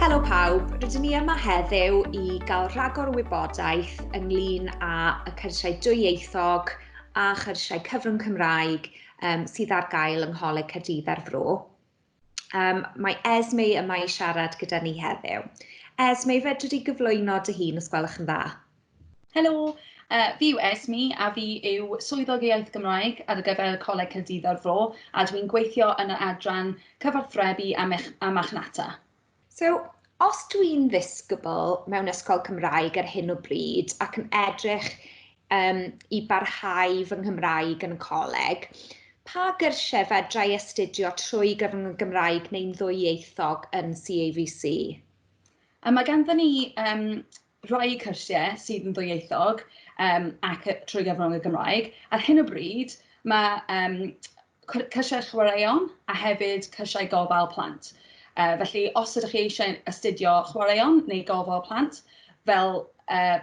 Helo pawb, rydyn ni yma heddiw i gael rhagor o wybodaeth ynglyn â y cyrsiau dwyieithog a chyrsiau cyfrwng Cymraeg um, sydd ar gael yng Ngholeg Caerdydd a'r Fro. Um, mae Esme yma i siarad gyda ni heddiw. Esme, fedri di gyflwyno dy hun os gwelwch yn dda? Helo, uh, fi yw Esme a fi yw Swyddog Iaith Gymraeg ar gyfer Coleg Caerdydd o'r Fro a dwi'n gweithio yn yr adran cyfarthrebu a, mech, a machnata. So, os dwi'n ddisgybl mewn ysgol Cymraeg ar hyn o bryd ac yn edrych um, i barhau fy Nghymraeg yn y coleg, pa gyrsiau fedra i astudio trwy gyfrwng y Gymraeg neu'n ddwyieithog yn CAVC? Mae ganddyn ni um, rhai cyrsiau sydd yn ddwyieithog um, ac trwy gyfrwng y Gymraeg. Ar hyn o bryd, mae um, cyrsiau chwaraeon a hefyd cyrsiau gofal plant. Uh, felly, os ydych chi eisiau astudio chwaraeon neu gofal plant fel, uh,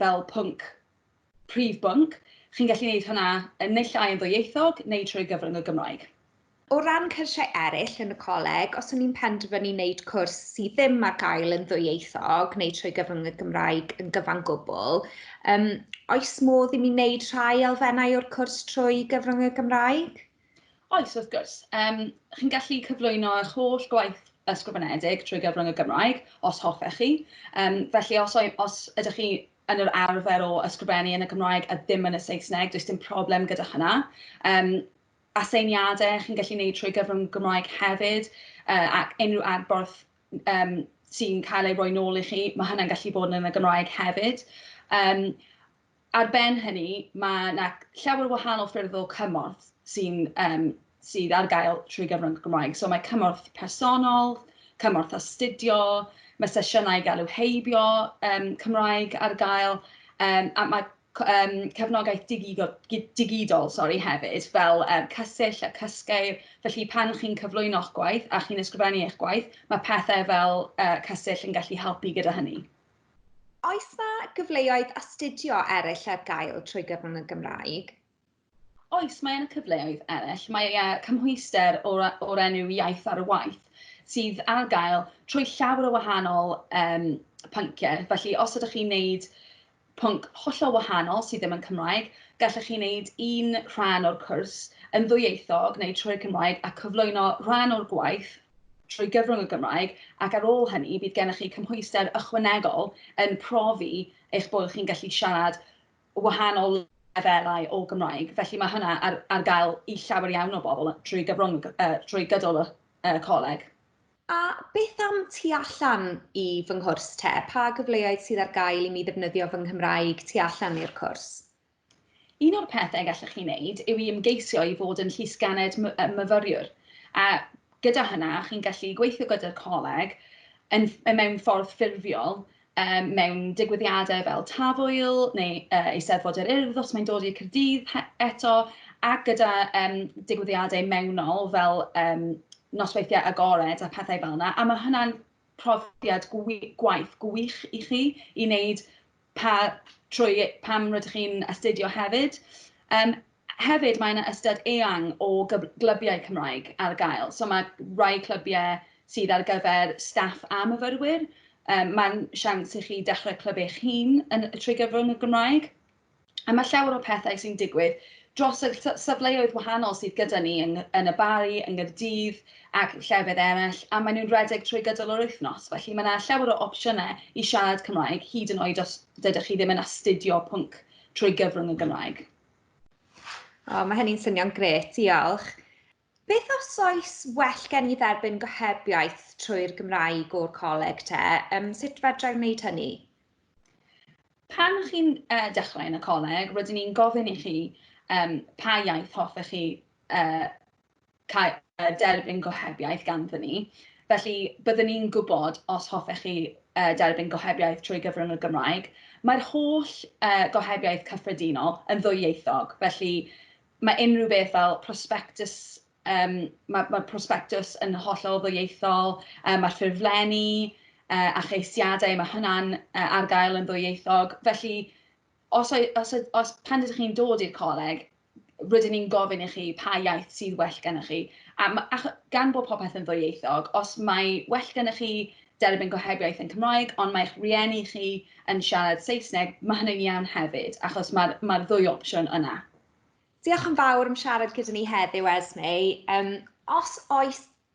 fel pwnc Prif bwnc, chi'n gallu neud hwnna yn naill ai yn ddwyieithog neu trwy gyfrwng y Gymraeg. O ran cyrsiau eraill yn y coleg, os o'n i'n penderfynu neud cwrs sydd ddim ar gael yn ddwyieithog neu trwy gyfrwng y Gymraeg yn gyfan gwbl, yym, oes modd i mi neud rhai elfennau o'r cwrs trwy gyfrwng y Gymraeg? Oes, wrth gwrs. Yym, chi'n gallu cyflwyno eich holl gwaith ysgrifenedig trwy gyfrwng y Gymraeg, os hoffech chi. Yym, felly os oe- os ydych chi yn yr arfer o ysgrifennu yn y Gymraeg a ddim yn y Saesneg, does dim problem gyda hynna. Um, aseiniadau chi'n gallu gwneud trwy gyfrwng Gymraeg hefyd, uh, ac unrhyw adborth um, sy'n cael ei roi nôl i chi, mae hynna'n gallu bod yn y Gymraeg hefyd. Um, ar ben hynny, mae yna llawer o wahanol ffyrdd o cymorth sy'n um, sydd ar gael trwy gyfrwng y Gymraeg. So mae cymorth personol, cymorth astudio, mae sesiynau i gael eu heibio um, Cymraeg ar gael, um, a mae um, cefnogaeth digidol, digidol sorry, hefyd, fel um, cysill a cysgeir. Felly pan chi'n cyflwyno'ch gwaith a chi'n ysgrifennu eich gwaith, mae pethau fel uh, cysill yn gallu helpu gyda hynny. Oes mae gyfleoedd astudio eraill ar gael trwy gyfrwng y Gymraeg? Oes, mae yna cyfleoedd eraill. Mae e cymhwyster o'r, or enw Iaith ar y Waith sydd ar gael trwy llawer o wahanol um, pynciau. Felly, os ydych chi'n wneud pwnc hollol wahanol sydd ddim yn Cymraeg, gallwch chi wneud un rhan o'r cwrs yn ddwyieithog neu trwy'r Cymraeg a cyflwyno rhan o'r gwaith trwy gyfrwng y Gymraeg ac ar ôl hynny bydd gennych chi cymhwyster ychwanegol yn profi eich bod chi'n gallu siarad wahanol lefelau o Gymraeg, felly mae hwnna ar ar gael i llawer iawn o bobl drwy gyfrwng y... drwy gydol y y coleg. A beth am tu allan i fy nghwrs te, pa gyfleoedd sydd ar gael i mi ddefnyddio fy Nghymraeg tu allan i'r cwrs? Un o'r pethe gallwch chi wneud yw i ymgeisio i fod yn Llysgennad my- yy Myfyriwr, a gyda hynna chi'n gallu gweithio gyda'r coleg yn ff- mewn ffordd ffurfiol mewn digwyddiadau fel Tafwyl neu Eisteddfod yr Urdd os mae'n dod i'r Caerdydd eto, ac gyda digwyddiadau mewnol fel nosweithiau agored a phethau fel yna, a mae hwnna'n profiad gwaith gwych i chi i wneud pan rydych chi'n astudio hefyd. Hefyd mae yna ystad eang o glybiau Cymraeg ar gael, so mae rhai clybiau sydd ar gyfer staff a myfyrwyr, mae'n siawns i chi dechrau clwb eich hun trwy gyfrwng y Gymraeg, a mae llawer o pethau sy'n digwydd dros y safleoedd wahanol sydd gyda ni yn y Barri, yng Nghaerdydd ac llefydd eraill, a maen nhw'n rhedeg trwy gydol yr wythnos, felly mae yna llawer o opsiynau i siarad Cymraeg, hyd yn oed os dydych chi ddim yn astudio pwnc trwy gyfrwng y Gymraeg. O, mae hynny'n swnio'n gret, diolch. Beth os oes well gen i dderbyn gohebiaeth trwy'r Gymraeg o'r coleg te? Um, sut fedra i wneud hynny? Pan chi'n uh, dechrau yn y coleg, rydyn ni'n gofyn i chi um, pa iaith hoffech chi uh, derbyn gohebiaeth ganddyn ni, felly byddwn ni'n gwybod os hoffech chi derbyn gohebiaeth trwy gyfrwng y Gymraeg. Mae'r holl gohebiaeth cyffredinol yn ddwyieithog, felly mae unrhyw beth fel prospectus, mae'r prospectus yn hollol ddwyieithol, mae'r ffurflenni a cheisiadau, mae hwnna'n ar gael yn ddwyieithog, felly Os oe- os oe- os pan ydych chi'n dod i'r coleg, rydyn ni'n gofyn i chi pa iaith sydd well gennych chi. A ma'... acho- gan bod popeth yn ddwyieithog, os mae well gennych chi derbyn gohebiaeth yn Cymraeg ond mae'ch rhieni chi yn siarad Saesneg, ma' hynny'n iawn hefyd, achos mae'r mae'r ddwy opsiwn yna. Diolch yn fawr am siarad gyda ni heddiw, Esme. Yym, os oes